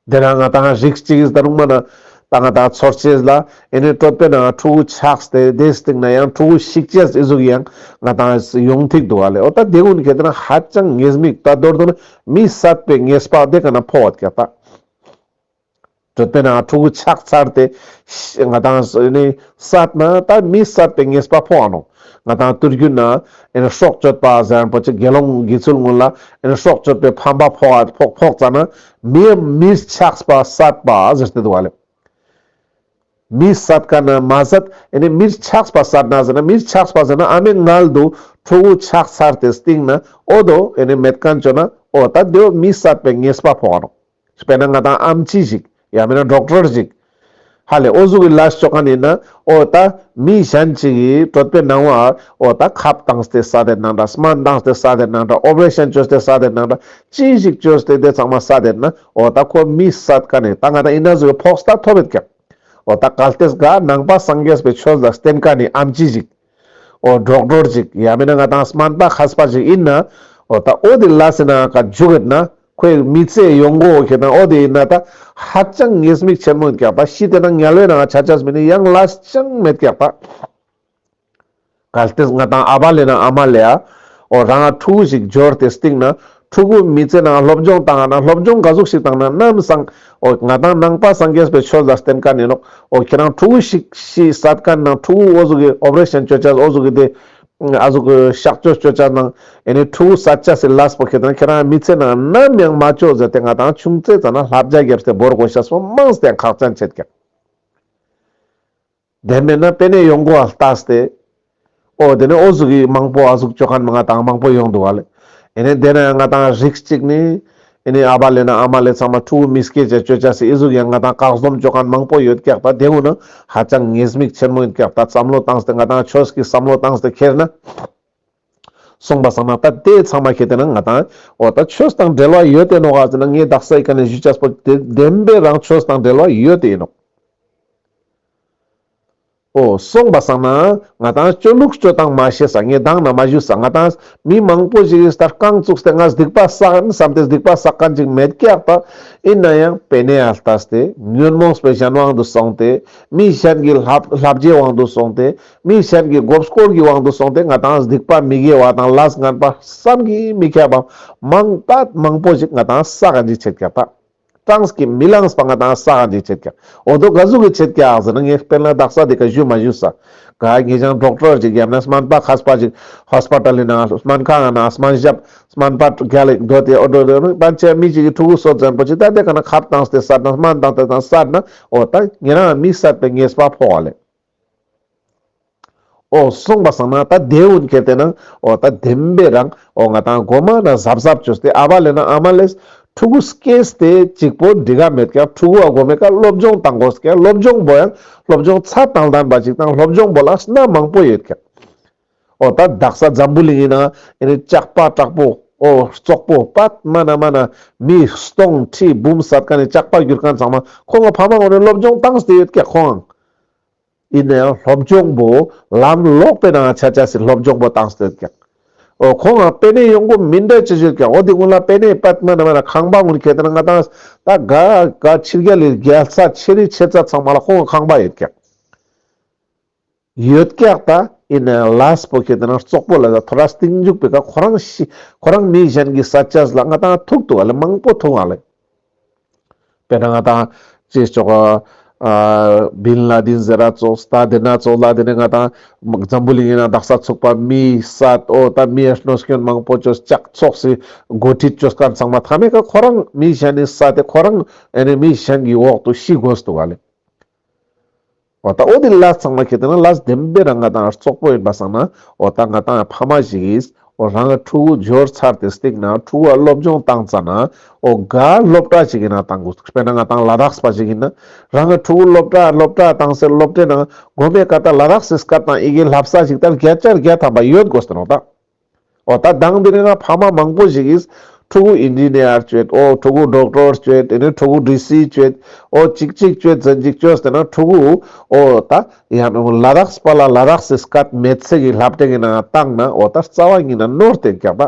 དེ་ན་ང་དང་རིགས་གཅིག་ཡིན་ད་རུང་མ་ན་ད་ང་དང་ཚོར་སྐྱེས་ལ་ཨེ་ནས་སྤྲོད་པས་ན་ཕྲུ་གུ་ཆགས་ཏེ་དེའི་སྟེང་ན་ཡང་ཕྲུ་གུ་ཤིག་སྐྱེས་ཨི་གཟུགས་ཡང་ང་དང་ཡོང་ཐིག་འདུག་ག་ལེ་འོ་ད་དེ་ཀུན་གྱི་དེ་ན་ཧ་ཅང་ངེས་མིག་ད་དོར་དུ་ན་མི་བསད་པའི་ངེས་སྤགས་དེ་ག་ན་ཕོ་བ་སྐྱ་ད་སྤྲོད་པས་ན་ཕྲུ་གུ་ཆགས་ཚར་ཏེ་ང་དང་ཨེ་ནས་བསད་ན་ད་མི་བསད་པའི་ངེས་སྤགས་ཕོ་བ་ནོ། ང་དང་བསྟུན་རྒྱུ་ན་ཨེར་ཤོག་གཅོད་པ་གཟན་རིན་པོ་ཆེ་དགེ་སློང་དགེ་ཚུལ་དངོས་ལ་ཨེར་ཤོག་གཅོད་པའི་ཕམ་པ་ཕོག་ཨ་ཕོག་ཕོག་ཙ་ན་མིའི་མིས་ཆགས་པ་ཟད་པ་ཟེར་ཏེ་འདུག་ལ། མིས་ཟད་ཀ་ན་མ་ཟད་ཨེ་ནས་མིར་ཆགས་པ་ཟད་ན་ཟེར་ན་མིར་ཆགས་པ་ཟེར་ན་ཨ་མའི་མངལ་དུ་ཁྲོ་བོ་ཆགས་ཚར་ཏེ་སྟེང་ན་ཨོ་དོ་ཨེ་ནས་མེད་ཀན་བཅོས་ན་ཨོ་ད་དེའོ་མིས་ཟད་པའི་ངེས་པ་ཕོག་ཨ་རོ། དཔེར་ན་ང་དང་ཨམ་ཆི་ཞིག་ཡང་མིན་ན་སྒྲོག་དྲར་ཞིག་ཧ་ལས་ཨོ་གཟུགས་ཀྱི་ལ་ཤོག་གང་ཡིན་ན་ཨོ་ད་མི་གཞན་ཞིག་གིས་དྲོད་པའི་ནང་བར་ཨོ་ད་ཁབ་བཏང་སྟེ་ས་དེ་ནང་འདྲ་སྨན་བཏང་སྟེ་ས་དེ་ནང་འདྲ་ཨོ་པ་རེ་ཤན་བཅོས་སྟེ་ས་དེ་ནང་འདྲ་ཅི་ཞིག་བཅོས་སྟེ་དེ་ཚང་མ་ས་དེ་ན་ཨོ་ད་ཁོ་མི་ས་ག་ནས་ད་ང་དང་ཨི་ན་གཟུགས་ཀྱི་ཕོགས་ས་ཐོབ་ཡོད་ཀྱང་ཨོ་ད་གལ་ཏེ་གཟའ་ནང་པ་སངས་རྒྱས་པའི་ཆོས་ལ་བརྟེན་ག་ནས་ཨམ་ཆི་ཞིག། འོ་འགྲོགས་འགྲོར་ཅིག་ཡ་མེད་ན་ང་དང་སྨན་པ་ཁ་སྤ་ཅིག་ཡིན་ན་འོ་ད་འོ་དེ་ལ་སེ་ན་ཀ་འཇུག་ཡོད་ན་ཁོས་མི་ཚེ་ཡོང་སྒོ་འོ་ཁྱེད་དང་འོ་དེ་ཡིན་ན་ད་ཧ་ཅང་ངེས་དམིགས་ཆེན་མོ་འཁྱག་པ་ཤི་དེ་ན་ངལ་བའི་ནང་ཆ་ཆ་མི་ནི་ཡང་ལས་ཅང་མེད་འཁྱག་པ། གལ་ཏེ་ང་དང་ཨ་བ་ལས་ན་ཨ་མ་ལས་ཨ་འོ་རང་ཨ་ཕྲུག་གུ་ཞིག་འབྱོར་དེ་སྟེང་ན་ཕྲུ་གུ་མི་ཚེ་ནང་སློབ་སྦྱོང་བཏང་ན་སློབ་སྦྱོང་ག་གཟུགས་ཤིག་བཏང་ན་གནའ་མི་སང་ཨོ་ང་དང་ནང་པ་སང་རྒྱས་པའི་ཆོས་ཟ་བསྟན་དཀའ་ནི་ལོག་ཨོ་ཁྱེད་རང་ཕྲུ་གུ་ཤིག་ཤི་ས་དཀའ་ནི་ནང་ཕྲུ་གུ་ཨོ་གཟུགས་གི operation བཅོས་བཅའ་ཨོ་གཟུགས་གི་དེ་ཨ་གཟུགས་གི་གཤག་བཅོས་བཅོས་བཅའ་ནང་ཨེ་ནི་ཕྲུ་གུ་ས་བཅའ་སི་ལ་སི་པོ་ཁེད་ན་ཁྱེད་རང་མི་ཚེ་ནང་ནམ་ཡང་མ་བཅོས་ཟེར་ཏེ་ང་དང་ཆུང་ཚེ་ཙ་ན་ལྷ་བརྒྱ་བརྒྱབ་སྟེ་བོར་དགོས་ཤ་སོ་མང་སྟེ་ཁག་ཅན་བྱེད་ཀྱང། དེ་མེད་ན་པེ་ནེ་ཡོང་གོ་ཨ་ལྟ་སྟེ། ཨོ་དེ་ནས་ཨོ་གཟུགས་ཡིག་མང་པོ་ཨ་གཟུགས་སྤྱོད་ཁང་ནས་ང་དང་མང་པོ་ཡོང་འདུག་ཨ་ལས་ཨེ་ནས་དེ་ན་ཡང་ང་དང་རིགས་གཅིག་ནི་ཨེ་ནས་ཨ་བ་ལས་ན་ཨ་མ་ལས་ཚང་མ་ཕྲུ་གུ་མི་སྐྱེས་བཅས་སྤྱོད་བྱ་སྲིད་ཨི་གཟུགས་ཡང་ང་དང་བཀག་ཟོམ་སྤྱོད་ཁང་མང་པོ་ཡོད་ཀྱག་ད་དེ་འུ་ན་ཧ་ཅང་ངེས་དམིགས་ཆེན་མོ་ཡིན་ཀྱག་ད་བསམ་བློ་བཏང་སྟེ་ང་དང་ཁྱོད་ཀྱིས་བསམ་བློ་བཏང་སྟེ་ཁྱེར་ན་གསུངས་པ་བསམ་ན་ད་དེ་ཚང་མ་ཁྱེད་དེ་ན་ང་དང་ཨོ་ད་ཁྱོད་དང་འབྲེལ་བ་ཡོད་དེ་ནོག་ཨ་ཟེར་ན་ངའི་རྡག་སའི་ཀ་ནས་བཞུད་བྱ་སྤོ་བདེན་པས་རང་ཁྱོད་དང་འབྲེལ་བ་ཡོད་དེ་ཨེ་ནོག། ཨོ། སོང་པ་བསགས་ནའང་ང་དང་སྤྱོད་ལུགས་སྤྱོད་སྟངས་མ་ཤེས་ས་ངས་སྡང་ན་མ་བཞུད་ས་ང་དང་མི་མང་པོ་ཞིག་གིས་ད་རྐང་བཙུགས་སྟེ་ང་སྡིག་པ་བསགས་ཨེ་བསམ་སྟེ་སྡིག་པ་བསགས་ག་འཇིགས་མེད་ཀྱི་ཨག་པ་ཨེ་ན་ཡང་བས་ནས་ཨ་ལྟ་སྟེ་ཉོན་མོངས་པའི་གཞན་དབང་དུ་སོང་སྟེ་མི་གཞན་གྱི་ལྷ་བརྒྱའི་དབང་དུ་སོང་སྟེ་མི་གཞན་གྱི་མགོ་སྐོར་གྱི་དབང་དུ་སོང་སྟེ་ང་དང་སྡིག་པ་མི་དགེ་བ་དང་ལ་སྔར་པ་བསམ་གྱིས་མི་ཁྱབ་པ་མང་དག་མང་པོ་ཞིག་ང་དང་བསགས་ག་འཇིགས་བྱེད་ཀྱི་ཨག་པ། གྲངས་ཀྱིས་མི་ལངས་པ་ང་དང་ས་ག་འདི་ཆད་ཀྱང། འོ་དོ་ག་གཟུགས་ཀྱི་ཆད་ཀྱང་ཟེར་ན་ངས་དཔེར་ན་བདག་ས་འདི་ག་བཞུད་མ་བཞུད་ས་ག་ངེད་ཅག་འབྲོག་གྲོགས་ཅིག་ཡབ་ན་སྨན་པ་ཁ་སྤ་ཅིག Hospital ལི་ནང་སྨན་ཁང་ན་སྨན་ཞབས་སྨན་པ་ག་ལིག་སྡོད་དེ་འོ་དོ་དོ་ནི་པན་ཆེན་མི་ཅིག་གི་ཕྲུ་གུ་སོ་བཙན་པོ་ཅིག་ད་དེ་ག་ན་ཁབ་དང་དེ་སར་ན་སྨན་དང་དེ་དང་སར་ན་འོ་ད་ངེད་རང་མི་གསར་པའི་ངེས་པ་ཕོག་ལེ། འོ་གསུངས་པ་བཟང་ན་ད་དེའི་འོད་གེར་བལྟས་ན་འོ་ད་དེམ་པས་རང་འོ་ང་དང་སྒོ་མ་ན་གཟབ་གཟབ་བྱོས་ཏེ་ཨ་བ་ལེ་ན་ཨ་མ་ལེས་ཕྲུ་གུ་སྐྱེས་ཏེ་གཅིག་པོ་འདི་ག་མེད་ཀྱང་ཕྲུ་གུ་བ་སྒོ་མེད་ཀ་སློབ་སྦྱོང་བཏང་དགོས་ཀྱང་སློབ་སྦྱོང་བོ་ཡང་སློབ་སྦྱོང་ཚ་དང་ལྡན་པ་ཞིག་དང་སློབ་སྦྱོང་བོ་ལ་སྣ་མང་པོ་ཡོད་ཀྱང། ཨོ་ད་བདག་ས་འཛམ་བུ་གླིང་ཡིན་ན་ཨེ་ནི་ལྕགས་པ་དྲག་པོ་ཨོ་ཙོག་པོ་པདྨ་ན་མ་ན་མི་སྟོང་ཁྲི་འབུམ་བསད་ག་ནི་ལྕགས་པ་བསྒྱུར་མཁན་ཚང་མ་ཁོ་ང་ཕ་མ་ངོ་ནས་སློབ་སྦྱོང་བཏང་སྟེ་ཡོད་སྐད་ཁོང་ཡིན་ནའི་སློབ་སྦྱོང་པོ་ལམ་ལོག་པའི་ནང་ཆ་ཆ་སི་སློབ་སྦྱོང་པོ་བཏང་སྟེ་ཡོད་སྐད་ཨོ་ཁོ་ང་པད་ནས་ཡོང་གོ་མི་འདྲ་ཅི་ཞུ་སྐད་ཨོ་དེ་སྔོན་ལ་པད་ནས་པདྨ་ན་མ་ན་ཁང་པ་ངོ་ནས་ཁེ་ཏེ་ན་ང་དང་ད་དགའ་དགའ་ཕྱི་རྒྱལ་ལས་རྒྱལ་ས་ཆེ་རི་ཆེ་ཙ་ཚང་མ་ལ་ཁོ་ང་ཁང་པ་ཡོད་སྐད། ཡོད་སྐད་ད་ཨིན་ལཱ་སྤོ་ཁེ་ཏེ་ན་ཙོག་པོ་ལ་ད་ཐོ་ར་སྟེང་རྒྱུག་པའི་ཁ་ཁོ་རང་ཤི་ཁོ་རང་མི་གཞན་གི་ས་ཆ་ལ་ང་ད་ཐུག་ཐུག་ལ་མང་པོ་ཐུག་ལ་པེ་ན་ང་ད་ཅེས་ཅོག་ཨ་བིན་ལཱ་དིན་ཟེ་ར་ཙོག་སྟ་དེ་ན་ཙོག་ལ་དེ་ནས་ང་ད་འཛམ་བུ་གླིང་ཡིན་ན་དག་ས་ཚུགས་པ་མི་ས་ཨོ་ད་མི་ཨེ་ཤནོ་སྐྱོན་མང་པོ་ཅོས་ཅག་ཚོགས་སི་མགོ་ཁྲིད་ཅོས་ཀ་ཚང་མ་ཐ་མའི་ཁ་ཁོ་རང་མི་གཞན་ནི་ས་དེ་ཁོ་རང་ཨེ་ནི་མི་གཞན་གི་འོག་ཏུ་ཤི་དགོས་ཐུག་ལ། འོ་ད་འོ་དེ་ལ་ཚང་མ་ཁྱེད་ལྟ་ན་ལ་བདེན་པའི་རང་ང་དང་ཙོག་པོ་ཡིན་པ་བསམ་ན་འོ་ད་ང་དང་ཕ་མ་ཞིག་ཡིས་འོ་རང་གི་ཕྲུ་གུ་འབྱོར་ཚར་དེ་སྟེང་ན་ཕྲུ་གུ་སློབ་སྦྱོང་བཏང་ཙ་ན་འོ་ག་སློབ་གྲྭ་ཞིག་ཡིན་ན་བཏང་དགོས་དཔེར་ན་ང་དང་ལ་དྭགས་པ་ཞིག་ཡིན་ན་རང་གི་ཕྲུ་གུ་སློབ་གྲྭ་སློབ་གྲྭ་བཏང་སའི་སློབ་གྲྭའི་ནང་དགོན་པའི་སྐབས་དང་ལ་དྭགས་སའི་སྐབས་དང་ཡི་གེའི་ལྷ་བསགས་ཞིག་ལྟར་བརྒྱ་ཆ་བརྒྱ་ཐམ་པ་ཡོད་དགོས་ཟེར་ན་འོ་ད། འོ་ད་སྡང་འདི་རིང་ང་ཕ་མ་མང་པོ་ཞིག་གིས་ཕྲུ་གུ Engineer བསྐྱོད་འོ་ཕྲུ་གུ Doctor བསྐྱོད་དེ་ནས་ཕྲུ་གུ DC བསྐྱོད་འོ་གཅིག་གཅིག་བསྐྱོད་ཚེ་གཅིག་བསྐྱོད་ཟེར་ན་ཕྲུ་གུ་འོ་ད་ཡང་ན་ལ་དྭགས་སུ་པ་ལ་ལ་དྭགས་སུ་སྐད་མེད་ཚིག་གི་ལྷ་བྲེ་གི་ནང་བཏང་ན་འོ་ད་རྩ་བ་གཉིས་ན་ནོར་དེ་རྒྱག་པ།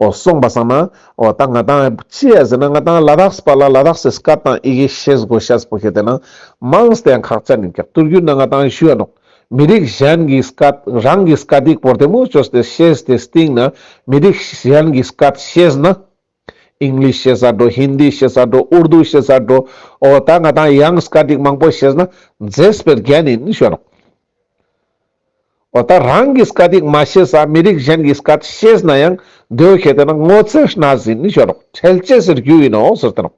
ཨོ་གསུངས་པ་སང་ན་ཨོ་ད་ང་དང་ཅི་ཡ་ཟེར་ན་ང་དང་ལ་དྭགས་སུ་པ་ལ་ལ་དྭགས་སུ་སྐད་དང་ཡི་གེ་ཤེས་དགོས་ཤ་སྤོ་ཤེས་དེ་ན་མང་སྟེ་ཡང་ཁག་ཅ་མིན་ཀྱང་བསྟུར་རྒྱུ་ན་ང་དང་ཞུ་ཡ་འདུག་མི་རིགས་གཞན་གྱི་སྐད་རང་གི་སྐད་དེ་བོར་དེ་མུ་ཅོ་སྟེ་ཤེས་དེ་སྟེང་ན་མི་རིགས་གཞན་གྱི་སྐད་ཤེས་ན English ཤེས་ས་འགྲོ Hindi ཤེས་ས་འགྲོ Urdu ཤེས་ས་འགྲོ་ཨོ་ད་ང་དང་ཡང་སྐད་ཅིག་མང་པོ་ཤེས་ན་མཛེས་པའི་རྒྱན་ཡིན་ཞུ་ཡ་འདུག། འོ་ད་རང་གིས་སྐད་ཡིག་མ་ཤེས་ས་མི་རིགས་གཞན་གྱིས་སྐད་ཤེས་ན་ཡང་འདོད་ཤེས་དེ་ན་སྔོ་ཚལ་སྣ་ཟིན་ནི་ཤོར་རོགས་འཕྲལ་སྐྱེས་ཟེར་རྒྱུ་ཡིན་ནོ་ཟེར་ཐུབ།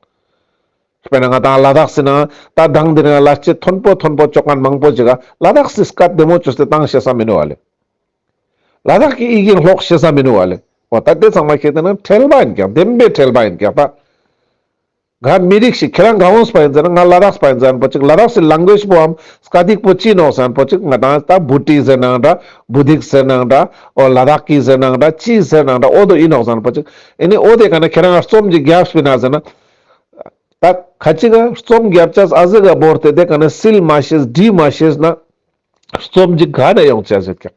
དཔེར་ན་ང་དང་བླ་དྭགས་སི་ན་ད་སྒང་འདིར་ཡང་བླ་སྐྱེས་མཐོན་པོ་མཐོན་པོ་ཅོག་ཁང་མང་པོ་ཅིག་བླ་དྭགས་སིས་སྐད་བདེ་མོ་ཅོ་སྟེ་གཏང་ཤེས་ས་མི་ནུས་བ་ལས། བླ་དྭགས་ཀྱི་དབྱིག་ཡིག་ཀློག་ཤེས་ས་མི་ནུས་བ་ལས་འོ་ད་དེ་ཚང་མ་ཤེས་དེ་ན་འཕྲལ་པ་ཡིན་ཀྱང་བདེན་པའི་འཕྲལ་པ་ཡིན་ཀྱང་ད། ང་མི་རིགས་ཤིག་ཁྱེད་རང་གང་རུང་སྤ་ཡིན་ཟེར་ན་ང་ལ་རགས་སྤ་ཡིན་ཟེར་ན་པོ་ཅིག་ལ་རགས་སི་ལང་གོས་པོའམ་སྐ་སྡིག་པོ་ཅི་ནོག་ཟེར་ན་པོ་ཅིག་ང་དང་ད་བུ་ཏི་ཟེར་ནའང་འདྲ་བུ་སྡིག་ཟེར་ནའང་འདྲ་ཨོ་ལ་རགས་གི་ཟེར་ནའང་འདྲ་ཅི་ཟེར་ནའང་འདྲ་ཨོ་དོ་ཨི་ནོག་ཟེར་ན་པོ་ཅིག་ཨེ་ནི་ཨོ་དེ་ག་ནི་ཁྱེད་རང་ག་རྩོམ་གྱི་རྒྱབ་སྤི་ན་ཟེར་ན། ད་ག་ཅིག་ག་རྩོམ་རྒྱབ་ཅགས་ཨ་ཟི་ག་བོར་དེ་དེ་ག་ནི་སིལ་མ་ཤེས་སྒྲིལ་མ་ཤེས་ན་རྩོམ་གྱི་ག་ནས་ཡོང་ཅགས་ཟེར་ཀྱང།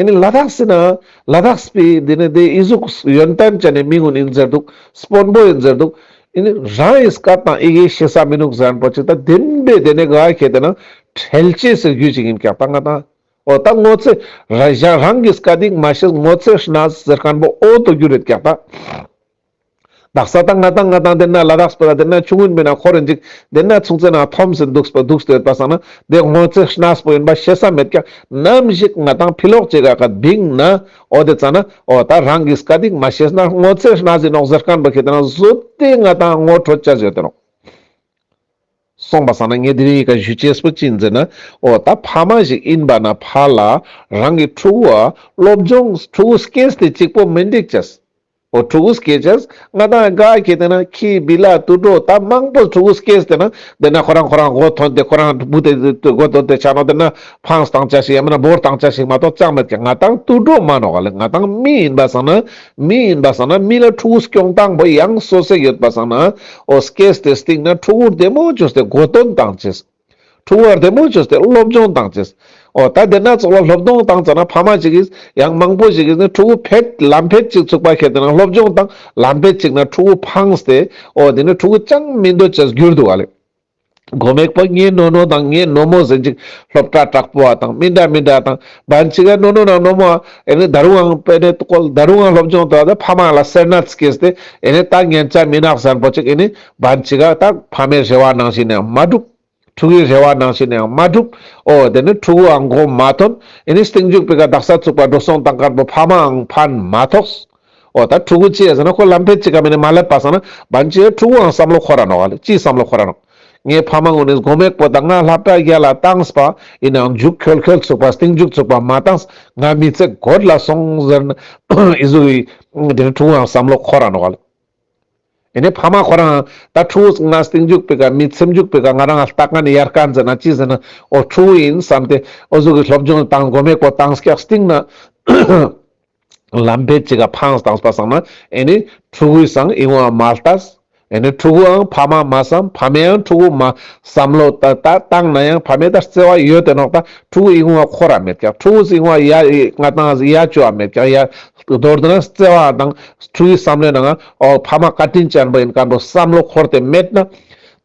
ཨེ་ནི་ལ་དྭགས་སི་ནའང་ལ་དྭགས་སི་པི་འདི་ནི་དེའི་དབྱི་གཟུགས་ཡོན་ཏན་ཅན་ནི་མི་ངོ་ནི་ཟེར་འདུག་སི་པོན་པོ་ཡིན་ཟེར་འདུག་ཨེ་ནི་རང་ཨི་སི་ཀ་དང་ཨི་གེ་ཤེ་ས་མི་ནུག་ཟན་པོ་ཅིག་ད་དེམ་པའི་དེ་ནི་ག་ཤེད་དེ་ནང་ཁྲལ་ཅེས་ཟེར་རྒྱུ་ཅིག་ཡིན་ཀྱང་ད་ང་དང་ཨོ་ད་ངོ་ཚེ་ར་གཞན་རང་གི་སི་ཀ་དིག་མ་ཤེས་ངོ་ཚེ་ཤི་ན་ཟེར་ཤན་པོ་ཨོ་དོ་རྒྱུ་རེད་ཀྱང་ད། བདག་ས་དང་ང་དང་ང་དང་དེ་ན་ལ་རགས་སྤེ་ར་དེ་ན་ཆུང་ངུས་མིན་ན་ཁོ་རུ་འཇིག་དེ་ན་ཆུང་ཚེ་ན་ཐོམ་ཟིན་འདུག་སྤེ་འདུག་ཟེར་པ་ས་ན་དེ་སྔོན་ཚེ་སྣགས་པོ་ཡིན་པ་ཤེས་ས་མེད་ཀྱང་ནམ་ཞིག་ང་དང་ཕི་ལོག་ཅེ་ག་ག་དིང་ན་འོ་དེ་ཙ་ན་འོ་ད་རང་གིས་ག་དིང་མ་ཤེས་ན་སྔོན་ཚེ་སྣགས་ཟིན་ནོག་ཟེར་ཁན་པ་ཁེ་དེ་ན་བཟོད་དེ་ང་དང་ངོ་ཁྲོ་ཅི་བྱེད་དེ་རོགས། སོང་པ་ས་ན་ངས་དེ་རིང་ཡི་ག་བཞུ་ཆེས་པོ་ཅིག་མཛད་ན་འོ་ད་ཕ་མ་ཞིག་ཡིན་པ་ན་ཕ་ལ་རང་གི་ཕྲུ་གུ་ཨ་སློབ་སྦྱོང་ཕྲུ་གུ་སྐྱེས་དེ་གཅིག་པོ་མི་འགྲིག་ཅེས་ཨོ་ཕྲུ་གུ་སྐྱེས་རྗེས་ང་དང་དགའ་སྐྱེས་དེ་ན་ཁྱི་སྦི་ལ་ཏུ་སྒྲོ་ད་མང་པོ་ཕྲུ་གུ་སྐྱེས་དེ་ན་དེ་ན་ཁོ་རང་ཁོ་རང་གོ་ཐོན་དེ་ཁོ་རང་ཕྲུ་གུ་དེ་དུས་གོ་ཐོན་དེ་ཆགས་ནོ་དེ་ན་ཕང་སྟངས་ཅག་ཞིག་ཡང་མིན་ན་འབོར་སྟངས་ཅག་ཞིག་མ་གཏོགས་ཅང་མེད་ཀྱི་ང་དང་ཏུ་སྒྲོ་མ་ནོ་ག་ལས་ང་དང་མི་ཡིན་པ་བཟང་ན་མི་ཡིན་པ་བཟང་ན་མི་ལ་ཕྲུ་གུ་སྐྱོང་སྟངས་པོ་ཡང་སོ་སེ་ཡོད་པ་བཟང་ན་ཨོ་སྐྱེས་དེ་སྟེང་ན་ཕྲུ་གུར་དེ་མོ་ཅོས་དེ་གོ་ཐོན་སྟངས་ཅི་ཟེར། འཁྲུངས་བར་དེ་མོ་ཆུ་སྟེ་སློབ་སྦྱོང་དང་བཅས། འོ་ད་འདི་ན་ཚོགས་ལ་སློབ་སྟོང་དང་བཅས་ན་ཕ་མ་གཅིག་གིས་ཡང་མང་པོ་ཞིག་གིས་ནི་ཕྲུ་གུ་ཕེད་ལམ་ཕེད་གཅིག་ཚུགས་པ་ཁེ་དེ་ན་སློབ་སྦྱོང་དང་ལམ་ཕེད་གཅིག་ན་ཕྲུ་གུ་འཕངས་ཏེ་འོ་འདི་ནི་ཕྲུ་གུ་ཅང་མི་འདོད་ཅེས་གྱུར་འདུག་ཨ་ལས། མགོ་མེག་པོ་ངའི་ནོ་ནོ་དང་ངའི་ནོ་མོ་ཟེར་ཅིག་སློབ་གྲྭ་དྲག་པོ་བ་དང་མི་འདྲ་མི་འདྲ་དང་བན་ཆི་ཀའི་ནོ་ནོ་དང་ནོ་མོ་ཨ་ནི་ད་རུང་འང་པེ་ནེ་ཏུ་ཀོལ་ད་རུང་འང་སློབ་སྦྱོང་དུ་བ་དེ་ཕ་མ་ལ་སེར་སྣ་ཚིག་གིས་ཏེ་ཨ་ནི་ད་ངན་ཅག་མི་ནག་གཟན་པོ་ཅིག་ཨ་ནི། བ་འཆི་ཁ་དག་ཕ་མའི་རེ་བ་ནང་བཞིན་ཡང་མ་འགྲུབ། ཕྲུ་གུའི་རེ་བ་ནང་བཞིན་ཡང་མ་འགྲུབ། ཨོ་དེ་ནི་ཕྲུ་གུའང་མགོ་མ་ཐོན། ཨེ་ནི་སྟེང་རྒྱུག་པའི་ཀ་དག་ས་བཙུགས་པ་འགྲོ་སོང་དང་དཀར་པོ་ཕ་མའང་ཕན་མ་ཐོགས། ཨོ་ད་ཕྲུ་གུ་ཅེས་ཟེར་ན་ཁོ་ལམ་ཕན་ཅི་ག་མེད་ནས་མ་སླེབས་པ་བསམ་ན་བ་འཆི་ཡས་ཕྲུ་གུའང་བསམ་བློ་ཁོ་ར་ནོག་ག་ལ་ཅིས་བསམ་བློ་ཁོ་ར་ནོག། ངའི་ཕ་མ་དངོས་ནས་མགོ་མེག་པོ་དང་ང་ལྷ་བྲག་བརྒྱད་ལ་བཏངས་པ་ཡིན་ནའང་རྒྱུག་ཁྱོལ་ཁྱོལ་ཚུགས་པ་སྟེང་རྒྱུག་ཚུགས་པ་མ་བཏངས་ང་མི་ཚེ་དགོད་ལ་སོང་ཟེར་ན་ཨེ་ཟུག་གི། ཨོ་དེ་ནི་ཕྲུ་གུའང་བསམ་བློ་ཁོ་ར་ནོག་ག་ལ། ཨེ་ནས་ཕ་མ་ཁོ་རང་ད་ཁྲོ་བོ་ང་སྟེང་རྒྱུག་པའི་ཀ་མི་ཚེམ་རྒྱུག་པའི་ཀ་ང་རང་ལྟ་ཀ་ནས་ཡར་ཀ་འཛེར་ན་ཅི་ཟེར་ན་ཨོ་ཁྲོ་བོ་ཡིན་བསམ་སྟེ་ཨོ་གཟུགས་ཀྱི་སློབ་སྦྱོང་དང་དགོས་མེད་ཀོ་དང་སྐྱག་སྟེང་ན་ལམ་བེད་ཅི་ག་ཕངས་དང་བསྟ་བསམ་ན་ཨེ་ནས་ཁྲོ་བོའི་བསམ་ཨེ་འོང་མ་ལྟ་ཨེ་ནས་ཁྲོ་བོའང་ཕ་མ་མ་བསམ་ཕ་མའང་ཁྲོ་བོ་མ་བསམ་ལོ་ད་ད་བཏང་ན་ཡང་ཕ་མའི་ད་བརྩེ་བ་ཡོད་དེ་ནོག་ད་ཁྲོ་བོ་ཨེ་འོང་བ་ཁོ་ར་མེད་ཀྱང་ཁྲོ་བོ་ཨེ་འོང་བ་ཡ་ཡ་ང་དང་ཡ་ཅོ་བ་མེད་ཀྱང་ཡ་མདོར་ན་བརྩེ་བ་དང་ཐུགས་ཡིད་བསམ་ལེན་ནང་ཨོའོ་ཕ་མ་བཀའ་དྲིན་ཅན་པོ་ཡིན་སྐབས་འགྲོ་བསམ་བློ་འཁོར་ཏེ་མེད་ན།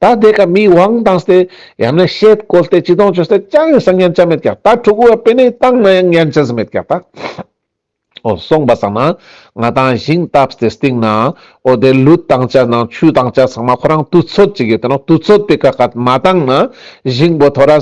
ད་ལྟའི་སྐབས་མིའི་དབང་བཏང་སྟེ་ཡང་ན་ཤེད་བཀོལ་ཏེ་སྤྱི་སྡོང་བྱོས་སྟེ་ཅང་ཡང་སང་ཉན་ཅ་མེད་ཀྱང་ད་ཕྲུ་གུ་བ་དཔེ་ནས་བཏང་ན་ཡང་ཉན་ཅ་ཟི་མེད་ཀྱང་ད། ཨོ་སོང་པ་སང་ན་ང་དང་ཞིང་བཏབ་སྟེ་སྟེང་ན་ཨོ་དེ་ལུད་བཏང་ཅ་ནང་ཆུ་བཏང་ཅ་ཚང་མ་ཁོ་རང་དུས་ཚོད་ཅིག་ཡོད་དེ་ནོ་དུས་ཚོད་དེ་ཀ་ཀ་མ་བཏང་ན་ཞིང་བོ་ཐོ་ར།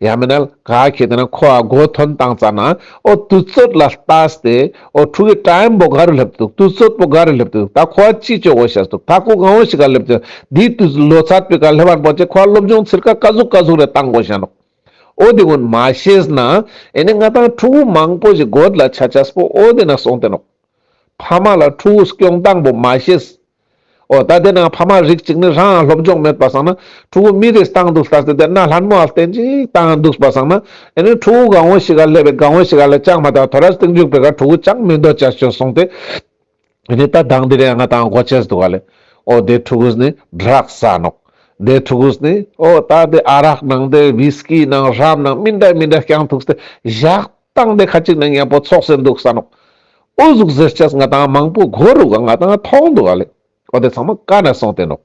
ཡང་མིན་ན་ག་གེ་དེ་ན་ཁོ་བ་སྒོ་ཐོན་བཏང་ཙ་ན་ཨོ་དུས་ཚོད་ལ་ལྟ་སྟེ་ཨོ་ཕྲུག་གི་ཀྲ་ཡན་པོ་ག་རུ་སླེབས་འདུག་དུས་ཚོད་པོ་ག་རུ་སླེབས་འདུག་ད་ཁོ་བ་ཅི་བྱོ་གོ་བྱས་འདུག་ད་ཁོ་གང་བོ་ཞིག་ག་སླེབས་འདུག་དེའི་དུས་ཚོད་ལོ་ཚད་པོའི་ག་སླེབས་བར་པོ་ཅེ་ཁོ་བ་སློབ་སྦྱོང་ཚིར་ག་ག་ཟུག་ག་ཟུག་རེ་བཏང་གོ་བྱས་འདུག་ཨོ་དེ་ཀུན་མ་ཤེས་ན་ཨེ་ནས་ང་དང་ཕྲུག་གུ་མང་པོ་ཞིག་སྒོ་དེ་ལ་ཆ་ཆ་སྤོ་ཨོ་དེ་ན་སོང་སྟེ་འདུག་ཕ་མ་ལ་ཕྲུག་གུ་སྐྱོང་སྟངས་པོ་མ་ཤེས་ཨོ་ད་དེ་ན་ཕ་མ་རིགས་གཅིག་ནི་རང་སློབ་སྦྱོང་མེད་པ་བསམ་ན་ཕྲུ་གུ་མི་རེས་བཏང་འདུག་ལྟ་ཚེ་དེ་ན་ལྷ་མོ་ཨ་བསྟན་ཅིག་བཏང་འདུག་པ་བསམ་ན་དེ་ནི་ཕྲུ་གུ་གང་བོ་ཞིག་ག་སླེབས་པའི་གང་བོ་ཞིག་ག་ལ་ཅང་མ་དག་ཐོ་རར་སྟེང་འཇུག་པའི་ག་ཕྲུ་གུ་ཅང་མི་འདོད་ཅག་ཤོད་གསུངས་ཏེ་དེ་ནི་ད་གདངས་འདི་རེད་ང་དང་གོ་ཆས་འདུག་ག་ལས་ཨོ་དེ་ཕྲུ་གུས་ནི་སྦྲག་ཟ་ནོག་དེ་ཕྲུ་གུས་ནི་ཨོ་ད་དེ་ཨ་རག་ནང་དེ་བྷིས་ཀི་ནང་རམ་ནང་མི་འདྲ་མི་འདྲ་རྐྱང་འདུག་སྟེ་བཞག། སྟངས་འདི་ཁ་ཅིག་ནི་ངས་པོ་ཚོགས་སེ་འདུག་ས་ནོ། ཨུ་གཟུགས་གཟེར་ཆས་ང་དང་མང་པོ་གོ་རུག་ག་ང་དང་མཐོང་འདུག་ག་ལེ། ཨོ་དེ་ཚང་མ་ཀ་ནས་སོང་སྟེ་ནོ།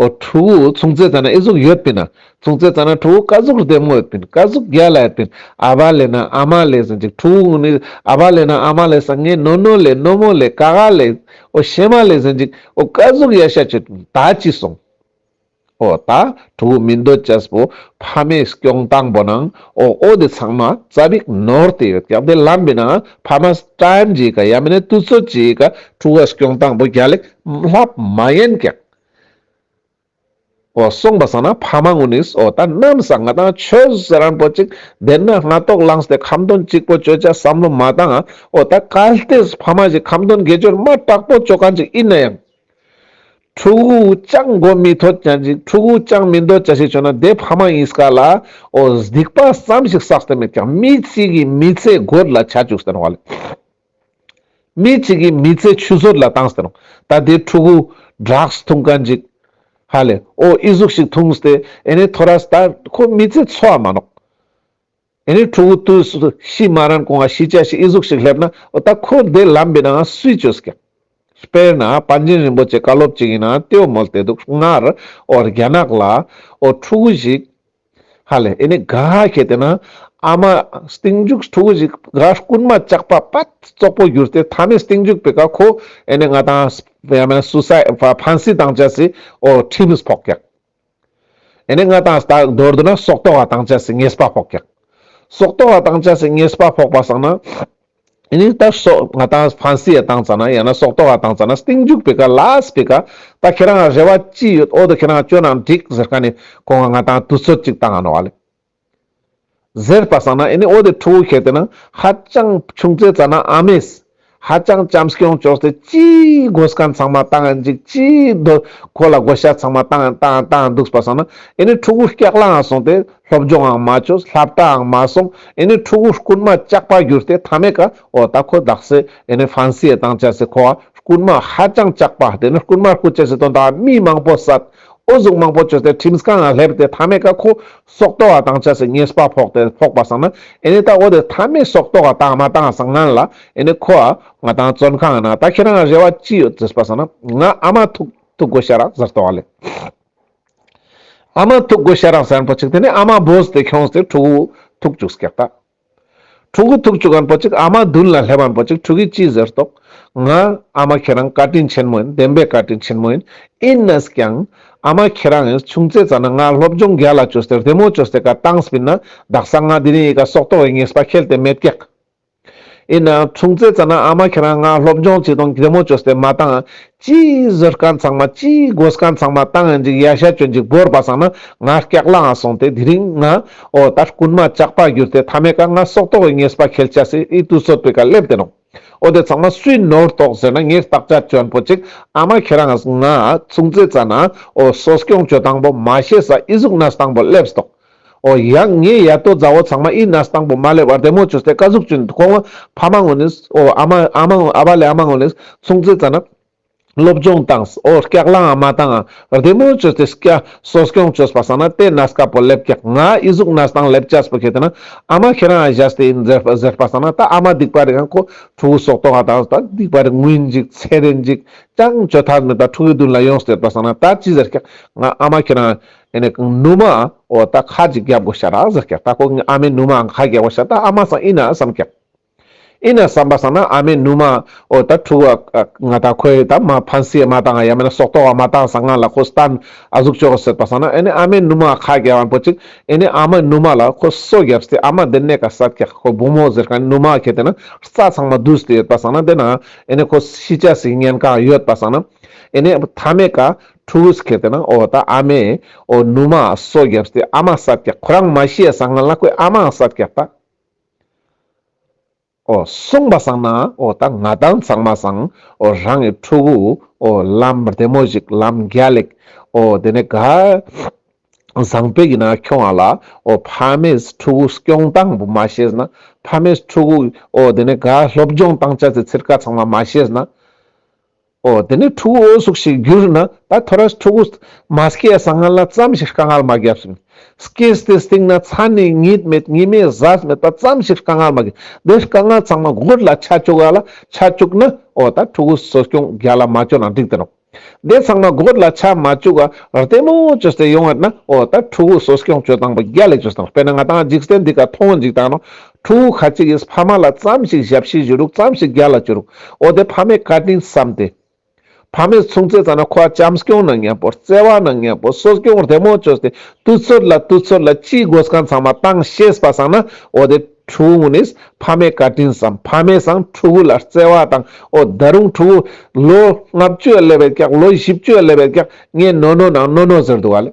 ཨོ་ཕྲུ་གུ་ཚུང་ཙེ་ཙ་ན་ཨི་གཟུགས་ཡོད་པིན་ན། ཚུང་ཙེ་ཙ་ན་ཕྲུ་གུ་ཀ་གཟུགས་རྡེབ་ངོ་ཡོད་པིན་ཀ་གཟུགས་རྒྱ་ལ་ཡོད་པིན་ཨ་བ་ལེ་ན་ཨ་མ་ལེ་ཟིན་ཅིག་ཕྲུ་གུ་ནི་ཨ་བ་ལེ་ན་ཨ་མ་ལེ་ས་ངེ་ནོ་ནོ་ལེ་ནོ་མོ་ལེ་ཀ་ག་ལེ། ཨོ་ཤེ་མ་ལེ་ཟིན་ཅིག་ཨོ་ཀ་གཟུགས་ཡ་ཤ་ཅིག་ད་ཅི་སོང། ཨོ་ད་ཕྲུ་གུ་མི་འདོད་ཅེས་པོ་ཕ་མའི་སྐྱོང་དང་པོ་ནང་ཨོ་ཨོ་དེ་ཚང་མ་རྩ་བིག་ནོར་དེ་ཡོད་ཀྱང་དེ་ལམ་པའི་ནང་ཕ་མ་སྤྲན་གྱིས་ཀ་ཡ་མི་ནས་དུས་ཚོད་ཀྱིས་ཀ་ཕྲུ་གུ་སྐྱོང་དང་པོ་རྒྱ་ལེགས་ལྷབ་མ་ཡིན་ཀྱང་ཨོ་གསུངས་པ་ས་ན་ཕ་མ་ངུ་ནིས་ཨོ་ད་གནམ་ས་ང་དང་ཆོས་རན་པོ་ཅིག་བདེན་ན་སྔ་ཐོག་ལངས་ཏེ་ཁམ་དོན་གཅིག་པོ་བཅོས་བྱ་བསམ་བློ་མ་བཏང་ཨོ་ད་གལ་ཏེ་ཕ་མ་ཞིག་ཁམ་དོན་དགེ་སྦྱོར་མ་དྲག་པོ་བཅོས་གང་ཅིག་ཡིན་ན་ཡང། ཕྲུ་གུ་ཅག་མགོ་མི་ཐོད་ཀྱང་ཅིག་ཕྲུ་གུ་ཅག་མི་འདོད་ཅག་ཞེས་བྱོས་ན་དེ་ཕ་མ་ཡིན་སྐད་ལ་ཨོ་སྡིག་པ་བསམ་ཞིག་བསགས་ཏེ་མེད་ཀྱང་མི་གཅིག་གིས་མི་ཚེ་རྒོད་ལ་བྱ་བཅུག་ཟེར་བ་ལས། མི་གཅིག་གིས་མི་ཚེ་ཆུད་ཟོས་ལ་བཏང་ཟེར་རུང་ད་དེ་ཕྲུ་གུ Drugs འཐུང་ག་ཅིག་ཧ་ལས་ཨོ་ཨི་གཟུགས་ཤིག་འཐུང་སྟེ་ཨེ་ནས་ཐོ་ར་སྟ་ཁོ་མི་ཚེ་འཚོ་བ་མ་ནོག། དེ་ནས་ཕྲུ་གུ་དུས་སུ་ཤི་མ་རན་གོང་ང་ཤི་བྱ་ཞེས་ཨི་གཟུགས་ཤིག་སླེབས་ན་འོ་ད་ཁོ་འདས་ལམ་པའི་ནང་སུས་བཅོས་ཀྱང། དཔེར་ན་པཎ་ཆེན་རིན་པོ་ཆེ་བཀའ་སློབ་ཅིག་ཡིན་ན་ཏེའུ་མོལ་ཏེ་དུག་སྔར་འོ་རྒྱ་ནག་ལ་འོ་ཕྲུ་གུ་ཞིག་ཧ་ལས་ཨེ་ནས་དགའ་ཁྱེད་དེ་ན་ཨ་མ་སྟེང་འཇུག་ཕྲུ་གུ་ཞིག་དགའ་རྐུན་མ་ལྕགས་པ་པད་བཙོག་པོ་གྱུར་ཏེ་ཐ་མའི་སྟེང་འཇུག་པའི་ཀ་ཁོ་ཨེ་ནས་ང་དང་ཡང་མེན་སུ་སའི་ཕ་ཕན་སི་དང་བྱ་སི་འོ་ཁྲིམས་སྤོག་ཀྱང། ཨེ་ནས་ང་དང་ལྟག་རྡོར་དུ་ན་སྲོག་ལྟོ་བ་དང་བཅས་སུ་ངེས་པ་ཕོག་ཀྱང། སྲོག་ལྟོ་བ་དང་བཅས་སུ་ངེས་པ་ཕོག་པ་བསགས་ན། ཨེ་ནས་ད་སྲོག་ང་དང་ཕན་སེའི་དང་བཅས་ན་ཡང་ན་སྲོག་ལྟོ་བ་དང་བཅས་ན་སྟེང་འཇུག་པའི་ཀ་ལས་པའི་ཀ། ད་ཁྱེད་རང་ལ་རེ་བ་ཅི་ཡོད་འོ་ད་ཁྱེད་རང་སྐྱོ་ན་འགྲིག་ཟེར་ཀ་ནས་ཁོང་ང་དང་དུས་ཚོད་ཅིག་ད་ང་ནོ་བ་ལས། ཟེར་པ་ཟ་ན་ཨེ་ནི་ཨོ་དེ་ཕྲུ་གུ་ཁྱེར་དེ་ན་ཧ་ཅང་ཆུང་ཚེ་ཙ་ན་ཨ་མེས་ཧ་ཅང་བྱམས་སྐྱོང་ཅོག་ཚེ་ཅི་དགོས་སྐད་ཚང་མ་ལྟ་ཡང་འཇིག་ཅི་དོ་ཁོ་ལ་དགོས་ཤ་ཚང་མ་ལྟ་ཡང་ལྟ་ཡང་འདུག་པ་ཟ་ན་ཨེ་ནི་ཕྲུ་གུ་སྐྱག་ལ་ཡང་སོང་སྟེ་སློབ་སྦྱོང་ཡང་མ་བྱོས་ལྷ་བྲ་ཡང་མ་སོང་ཨེ་ནི་ཕྲུ་གུ་རྐུན་མ་སྐྱག་པ་གྱུར་ཏེ་ཐ་མའི་ཀ་ཨོ་ད་ཁོ་བདག་སེ་ཨེ་ནི་ཧྥན་སི་ཨེ་དང་བྱ་སེ་ཁོ་བ་རྐུན་མ་ཧ་ཅང་སྐྱག་པ་དེ་ནི་རྐུན་མ་རྐུ་བྱེད་སེ་དོན་དག་མི་མང་པོ་ཟ་ཨོ་གཟུགས་མང་པོ་བྱོས་ཏེ་ཁྲིམས་ཀ་ང་སླེབས་ཏེ་མཐའ་མེད་ཀ་ཁོ་སྲོག་ལྟོ་བ་དང་བྱ་སའི་ཉེས་པ་ཕོག་ཏེ་ཕོག་པ་སང་ན་ཨེ་ནས་ད་ཨོ་དེ་མཐའ་མེད་སྲོག་ལྟོ་བ་དང་མ་དང་སང་ངན་ལ་ཨེ་ནས་ཁོ་ཨ་ང་དང་བཙོན་ཁང་ན་ད་ཁྱེད་རང་རེ་བ་ཅི་ཡོད་ཟེར་པ་སང་ན་ང་ཨ་མ་ཐུག་ཐུག་གོ་ཤ་རག་ཟེར་ལྟོ་བ་ལས་ཨ་མ་ཐུག་གོ་ཤ་རག་ཟེར་པོ་ཅིག་དེ་ནས་ཨ་མ་བོས་ཏེ་ཁྱོངས་ཏེ་ཕྲུག་གུ་ཐུག་བཅུག་སྐད་ད། ཕྲུ་གུ་ཐུག་བཅུག་གམ་པོ་ཅིག་ཨ་མ་བདུན་ལ་སླེབ་བམ་པོ་ཅིག་ཕྲུ་གུས་ཅི་ཟེར་རྟོགས། ང། ཨ་མ་ཁྱེད་རང་བཀའ་དྲིན་ཆེན་མོ་ཡིན་བདེན་པའི་བཀའ་དྲིན་ཆེན་མོ་ཡིན། ཨིན་ཨེས་ཀྱང། ཨ་མ་ཁྱེད་རང་ཨེས་ཆུང་ཚེ་ཙ་ན་ང་སློབ་སྦྱོང་རྒྱ་ལ་བཅོས་ཏེ་རི་མོ་བཅོས་སའི་ཀ་ཏང་སྤིན་ན་བདག་ས་ང་དེ་རིང་ཡི་ག་སྲོག་ཐོག་བའི་ངེས་པ་ཁེལ་ཏེ་མེད་སྐྱག་ཨིན། ཨ་ཆུང་ཚེ་ཙ་ན་ཨ་མ་ཁྱེད་རང་ང་སློབ་སྦྱོང་བྱས་དང་རི་མོ་བཅོས་ཏེ་མ་ཏང་ཅིའི་བཟོད་དཀའ་མཚང་མ་ཅིའི་དགོད་དཀའ་མཚང་མ་བཏང་ཡང་འཇིག་ཡ་ཤ་ཅོ་འཇིག་བོར་པ་སང་ན་ང་སྐྱག་ལའང་སོང་སྟེ་དེ་རིང་ང་ཨོ་ད་རྐུན་མ་བཅག་པ་གྱུར་ཏེ་ཐ་མའི་ཀ་ང་སྲོག་ཐོག་བའི་ངེས་པ་ཁེལ་བཅའ་སྲིད་ཨི་དུས་ཚོད་དཔེ་ཀ་སླེབས་དེ་རུང་ཨོ་དེ་ཚང་མ་སུའི་ནོར་རྟོགས་ཟེར་ན་ངས་རྟགས་ཆ་གྱོན་པོ་ཅིག་ཨ་མ་ཁྱེད་རང་ང་མཚུངས་རྩེ་ཙ་ན་ཨོ་སོ་སྐྱོང་བྱོས་དང་པོ་མ་ཤེས་ས་ཨི་གཟུགས་ན་སྟང་པོ་སླེབས་སྟོང། ཨོ་ཡང་ངའི་ཡ་ཏོ་མཛའ་བོ་ཚང་མ་ཨི་ན་སྟང་པོ་མ་ལེ་བར་དེ་མོ་ཆུ་སྟེ་ཀ་གཟུགས་ཅུན་དུ་ཁོང་ཕ་མ་ངོ་ནས་ཨོ་ཨ་མ་ཨ་མ་ཨ་བ་ལེ་ཨ་མ་ངོ་ནས་སུང་ཙེ་ཙ་ན། སློབ་སྦྱོང་དང་ཨོ་སྐྱག་ལང་ཨ་མ་དང་བར་དེ་མོ་ཆུ་སྟེ་སྐྱ་སོ་སྐྱོང་ཆོས་པ་སང་ན་དེ་ན་སྐ་པོ་ལེབ་སྐྱག་ང་ཨི་གཟུགས་ན་སྟང་ལེབ་སྐྱ་སྤུ་ཁེ་དེ་ན་ཨ་མ་ཁེ་རང་ཨ་བཞ་སྟེ་ཨིན་ཟེར་ཟེར་པ་སང་ན་ད་ཨ་མ་སྡིག་པ་རེད་ཨང་ཁོ་ཕྲུ་གུ་སོག་ཏོ་ང་དང་ད་སྡིག་པ་རེད་ངུས་འཇིག་ཚེ་རེད་འཇིག་ཀྱང་བྱོས་ཐབས་མེད་ད་ཕྲུ་གུའི་མདུན་ལ་ཡོང་ཟེར་པ་སང་ན་ད་ཅི་ཟེར་སྐྱག་ང་ཨ་མ་ཁེ་རང་ཨེ་ནས་ཀང་ནུ་མ་འོ་ད་ཁ་ཅིག་རྒྱབ་དགོ་ཤ་ད་ཟེར་ཀྱག་ད་ཀོ་ངའི་ཨ་མའི་ནུ་མ་འང་ཁ་རྒྱབ་དགོ་ཤ་ད་ཨ་མ་སང་ཨི་ན་བསམ་ཀྱག་ཨི་ན་བསམ་པ་སང་ན་ཨ་མའི་ནུ་མ་འོ་ད་ཕྲུག་བ་ཀག་ང་ད་ཁོའི་ད་མ་ཕན་སེ་མ་ཏང་ཡ་མེ་ན་སོག་ཏོག་བ་མ་ཏང་སང་ང་ལ་ཁོ་སི་ཏན་ཨ་གཟུགས་ཅོག་ཟེར་པ་སང་ན་ཨེ་ནས་ཨ་མའི་ནུ་མ་ཁ་རྒྱ་བ་འགོ་ཅིག་ཨེ་ནས་ཨ་མའི་ནུ་མ་ལ་ཁོ་སོ་རྒྱབ་སྟེ་ཨ་མ་དེ་ནས་ཀ་སད་ཀྱག་ཁོ་བུ་མོ་ཟེར་ཀ་ནུ་མ་ཁྱེད་དེ་ན་རྩ་ཚང་མ་བསྡུས་སྟེ་ཡོད་པ་སང་ན་དེ་ན་ཨེ་ནས་ཁོ་ཤི་ཅག་སིག་ཉན་ཀང་ཡོད་པ་སང་ན་ཨེ་ནས་ཐ་མའི་ཀ། ཕྲུ་གུ་སྐྱེས་ཏེ་ན་འོ་ད་ཨ་མས་འོ་ནུ་མ་སོ་བརྒྱབ་སྟེ་ཨ་མ་ས་བརྒྱག་ཁོ་རང་མ་ཤེས་སང་ང་ལ་ཁོས་ཨ་མ་ས་བརྒྱག་ད་འོ་གསུངས་པ་སང་ན་འོ་ད་ང་དང་ཚང་མ་སང་འོ་རང་གི་ཕྲུ་གུ་འོ་ལམ་བདེ་མོ་ཞིག་ལམ་རྒྱ་ལེགས་འོ་དེ་ནས་ག་བཟང་བོད་ཀྱི་ན་ཁྱོང་ཨ་ལ་འོ་ཕ་མས་ཕྲུ་གུ་སྐྱོང་སྟངས་བུ་མ་ཤེས་ན་ཕ་མས་ཕྲུ་གུ་འོ་དེ་ནས་ག་སློབ་སྦྱོང་སྟངས་ཅ་ཚེ་ཚེར་ཀ་ཚང་མ་མ་ཤེས་ན། ཨོ་དེ་ནི་ཕྲུ་གུ་འོ་ཟུག་ཞིག་བསྒྱུར་ན་ད་ཐོ་ར་ཕྲུ་གུ་མ་སྐྱེས་ས་ང་ལ་ཙམ་ཞིག་དཀའ་ངལ་མ་བརྒྱབ་སིན། སྐྱེས་སྟེ་སྟེང་ན་ཚ་ནི་ཉིད་མེད་ཉི་མའི་གཟར་མེད་པ་ཙམ་ཞིག་དཀའ་ངལ་མ་བརྒྱབ་དེ་དཀའ་ངལ་ཚང་མ་སྒོར་ལ་ཆ་བཅུག་ཡ་ལ་ཆ་བཅུག་ན་ཨོ་ད་ཕྲུ་གུ་གསོ་སྐྱོང་རྒྱ་ལ་མ་བཅོལ་ན་འགྲིག་དེ་རོགས། དེ་ཚང་མ་སྒོར་ལ་ཆ་མ་བཅུག་ཨ་རྟེ་མོ་བཅོལ་ཏེ་ཡོང་ཡ་ན་ཨོ་ད་ཕྲུ་གུ་གསོ་སྐྱོང་བཅོལ་དང་པོ་རྒྱ་ལས་བཅོལ་སྟངས་དཔེར་ན་ང་དང་འཇིག་རྟེན་འདི་ག་མཐོང་འཇིག་དང་རོང་ཁྲོ་བོ་ཁ་ཅིག་གིས་ཕ་མ་ལ་བརྩམས་ཤིག་ཞབས་ཕྱི་བཞུ་རུག་བརྩམས་ཤིག་རྒྱ་ལ་བསྐྱུར་རུག་འོ་དེ་ཕ་མའི་བཀའ་དྲིན་བསམས་ཏེ། ཕ་མས་མཚུངས་རྩེ་ཙམ་ན་ཁོ་བ་བྱམས་སྐྱོང་ན་མཉམ་པོ་བརྩེ་བ་ན་མཉམ་པོ་གསོ་སྐྱོང་བར་དལ་མོ་བཅོས་ཏེ་དུས་ཚོད་ལ་དུས་ཚོད་ལ་ཅིའི་སྒོ་སྐང་ཚང་མ་བཏང་ཤེས་པ་བསང་ན་འོ་དེ་ཁྲོ་བོ་ངུ་ནིས་ཕ་མའི་བཀའ་དྲིན་བསམས་ཕ་མས་བསང་ཁྲོ་བོ་ལ་བརྩེ་བ་དང་འོ་ད་རུང་ཁྲོ་བོ། ལོ་ལྔ་བཅུའི་ཀླད་པའི་སྐྱག་ལོ་བཞི་བཅུའི་ཀླད་པའི་སྐྱག་ངས་ནོ་ནོ་ནང་ནོ་ནོ་ཟེར་འདུག་ག་ལས།